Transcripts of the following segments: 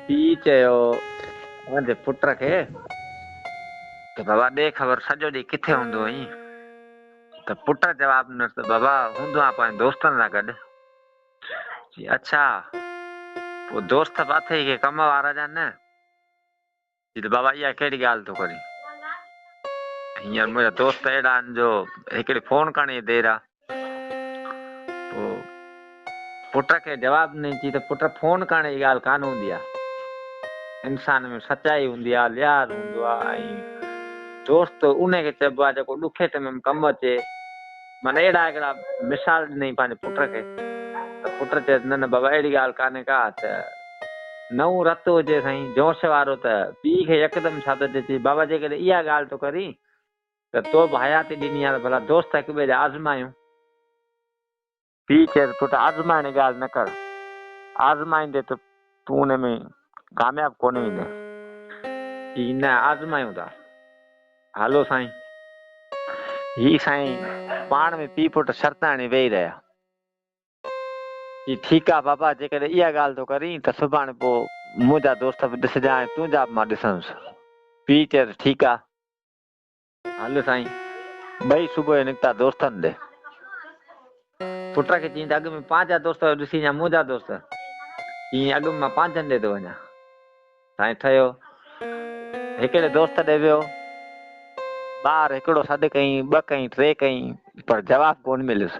پيء چيو پنهنجي پٽ کي ته بابا ڏي خبر سڄو ڏينهن ڪٿي هوندو هئين؟ ته پٽ جواب ڏنس ته بابا هوندو آهيان پنهنجن دوستن سان گڏ. چي اڇا پوء دوست به اٿئي ڪي ڪم وارا جا نه؟ چي ته بابا اها ڪهڙي ڳالهه ٿو ڪرين. هينئر منهنجا دوست اهڙا آهن جو هڪڙي فون ڪرڻ جي دير آ پوء پٽ کي جواب ڏني چي ته پٽ فون ڪرڻ جي ڳالهه ڪانه هوندي آ. انسان ۾ سچائي هوندي آ، لحاظ هوندو آ ۽ دوست انهي کي چئبو آ جيڪو ڏکي ٽيم ۾ ڪم اچي. معنيٰ اهڙا هڪڙا مثال ڏنائين پنهنجي پٽ کي ته پٽ چيس نه نه بابا اهڙي ڳالهه ڪانهي ڪا ته نئون رت هجي سائين جوش وارو ته پيء کي يڪدم ٿڌ اچي چئي بابا جيڪڏهن اها ڳالهه ٿو ڪرين ته تو به حياتي ڏني آهي ته ڀلا دوست هڪ ٻئي جا آزمايون. پيء چيس پٽ آزمائڻ جي ڳالهه نه ڪر آزمائيندي ته تون ان ۾ ڪامياب ڪونه ايندين. جي نه آزمايون ٿا. هلو سائين. هي سائين پاڻ ۾ پيء پٽ شرط هڻي ويهي رهيا. جي ٺيڪ آ بابا جيڪڏهن اها ڳالهه ٿو ڪرين ته سڀاڻي پوء منهنجا دوست به ڏسجان ۽ تنهنجا به مان ڏسنس. پيء چيس ٺيڪ آ. هل سائين. ٻئي صبح جو نڪتا دوستن ڏي. پٽ کي چيائين ته اڳ ۾ پنهنجا دوست هيو ڏسين يا منهنجا دوست. چيائين اڳ ۾ مان پنهنجن ڏي ٿو وڃان. سائين ٺهيو. هڪڙي دوست ڏي ويو. ٻار هڪڙو سڏ ڪيائين، ٻه ڪيائين، ٽي ڪيائين پر جواب ڪونه مليس.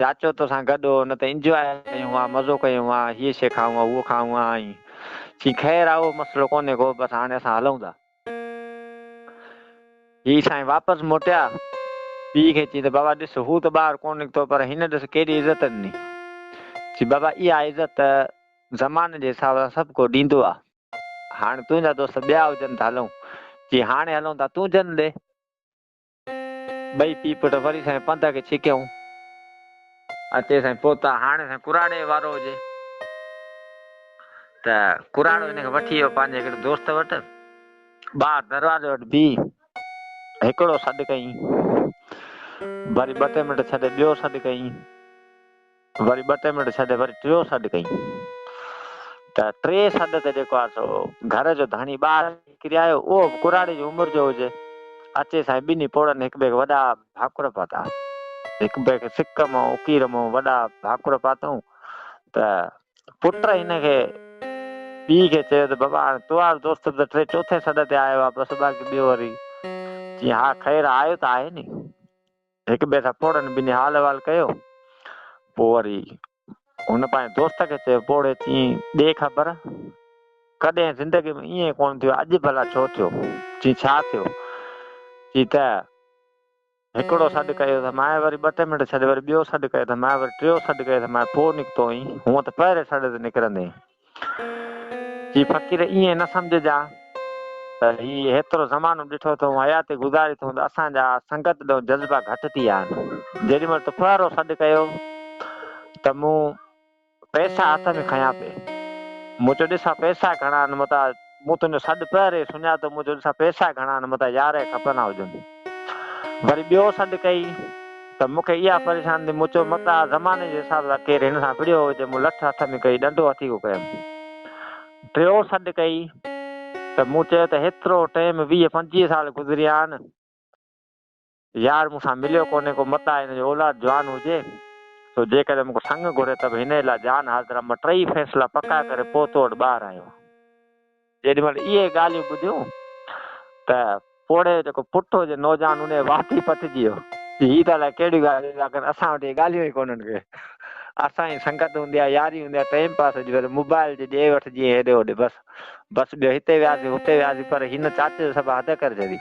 چاچو توسان گڏ هو نه ته انجواء ڪيون ها مزو ڪيون ها هيء شي کائون ها هوء کائون ها ائين چين خير اهو مسئلو ڪونهي ڪو بس هاڻي اسان هلون ٿا هي سائين واپس موٽيا پيء کي چين ته بابا ڏس هو ته ٻاهر ڪونه نڪتو پر هن ڏس ڪيڏي عزت ڏني چين بابا اها عزت ته زماني جي حساب سان سڀ ڪو ڏيندو آ هاڻي تنهنجا دوست ٻيا هجن ته هلون چين هاڻي هلون ٿا تون جن ڏي ٻئي پيء پٽ وري سائين پنڌ کي ڇڪيائون. اتي سائين پهتا. هاڻي سائين ڪراڙي وارو هجي ته ڪراڙو هن کي وٺي ويو پنهنجي هڪڙي دوست وٽ. ٻاهر دروازي وٽ بيهي هڪڙو سڏ ڪيائين. وري ٻه ٽي منٽ ڇڏي ٻيو سڏ ڪيائين. وري ٻه ٽي منٽ ڇڏي وري ٽيون سڏ ڪيائين ته ٽي سڏ تي جيڪو آهي سو گهر جو ڌڻي ٻاهر نڪري آيو اهو به ڪراڙي جي عمر جو هجي اچي سائين ٻنهي پوڙهن هڪ ٻئي کي وڏا ڀاڪر پاتا هڪ ٻئي کي سڪ مئو اڪير مئو وڏا ڀاڪر پاتائون ته پٽ هن کي پي کي چيو ته بابا هاڻي تو آهي دوست به ته ٽي چوٿين سڏ تي آيو آهي بس باقي ٻيو وري چي ها خير آيو ته آهي ني هڪ ٻئي سان پوڙهن ٻنهي حال احوال ڪيو. پوء وري هن پنهنجي دوست کي چيو، پوڙهي چيئي، ڏي خبر، ڪڏهن زندگيء ۾ ائين ڪونه ٿيو، اڄ ڀلا ڇو ٿيو؟ چيئي، ڇا ٿيو؟ چيئي ته هڪڙو سڏ ڪيو ته مانء، وري ٻه ٽي منٽ ڇڏي وري ٻيو سڏ ڪيو ته مانء، وري ٽيون سڏ ڪيو ته مانء، پوء نڪتو ايئن، هونء ته پهرين سڏ تي نڪرندين. چي فقير ائين نه سمجهجان ته هي هيترو زمانو ڏٺو ٿو حياتي گذاري ٿو ته اسان جا سنگت ڏانهن جذبا گهٽ ٿي ويا آهن. جيڏي مهل تو ڦوهارو سڏ ڪيو ته مون پئسا هٿ ۾ کنيا پئي. مون چيو ڏس ها پئسا گهڻا آهن متان مون تنهنجو سڏ پهرين ئي سڃاتو، مون چيو ڏسان پئسا گهڻا آهن، متان يارهين کپن ها هجن. وري ٻيو سڏ ڪئي ته مون کي اها پريشاني ٿي، مون چيو متان اها زماني جي حساب سان ڪير هن سان وڙهيو هجي، مون لٺ هٿ ۾ ڪئي، ڏنڊو هٿي ڪو ڪيم. ٽيون سڏ ڪئي ته مون چيو ته هيترو ٽيم ويهه پنجويهه سال گذريا آهن، يار مون سان مليو ڪونهي ڪو متان هن جو اولاد جوان هجي سو جيڪڏهن مون کي سڱ گهري ته به هن ئي لاء جان حاضر آهيان مان ٽيئي فيصلا پڪا ڪري پوء تو وٽ ٻاهر آيو آهيان. جيڏي مهل اهي ڳالهيون ٻڌيون ته پوڙهي جو جيڪو پٽ هو جي نوجوان انهيء وات ئي پٽجي ويو. هي ته الائي ڪهڙيون ڳالهيون ٿا ڪن اسان وٽ اهي ڳالهيون ئي ڪونهن ڪي اسان جي سنگت هوندي آهي ياري هوندي آهي ٽيم پاس هجي وري موبائل جي ڏي وٺ جيئن هيڏي هوڏي بس بس ٻيو هتي وياسين هتي وياسين پر هن چاچي جو سڀ حد ڪري ڇڏي.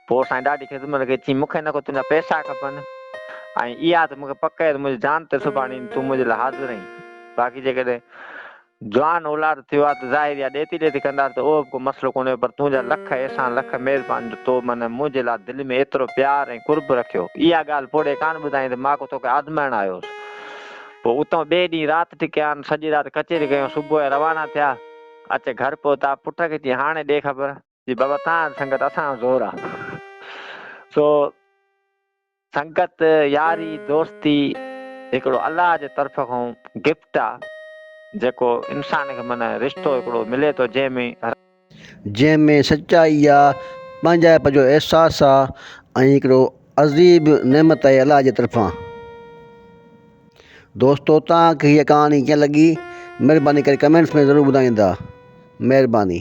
پوء سائين ڏاڍي خدمت ڪئي، چيائين، مون کي نه ڪو تنهنجا پئسا کپن ۽ اها ته مون کي پڪ آهي ته منهنجي جان ته سڀاڻي تون منهنجي لاء حاضر آهين، باقي جيڪڏهن جوان اولاد ٿيو آ ته ظاهر اها ڏيتي ڏيتي ڪنداسين ته اهو به ڪو مسئلو ڪونهي پر تنهنجا لک احسان لک مهربانيون جو تو منهن منهنجي لاء دل ۾ ايترو پيار ۽ قرب رکيو، اها ڳالهه پوڙهي ڪانه ٻڌائين ته ماڪو توکي آزمائڻ آيو هوس. پوء اتان ٻئي ڏينهن رات ٽڪيان، سڄي رات ڪچهري ڪيون، صبح جو روانا ٿيا، اچي گهر پهتا، پٽ کي چيائين، هاڻي ڏي خبر. جي بابا تان سنگت اسان جو زور آ سو سنگت ياري دوستي هڪڙو الله جي طرف کان گفٽ آ جيڪو انسان کي معنيٰ رشتو هڪڙو ملي ٿو جنهن ۾ جنهن ۾ سچائي آ پنهنجائپ جو احساس آ ۽ هڪڙو عظيب نعمت آهي الله جي طرفان دوستو تان کي هيء ڪهاڻي ڪيئن لڳي مهرباني ڪري ڪمينٽس ۾ ضرور ٻڌائيندا مهرباني.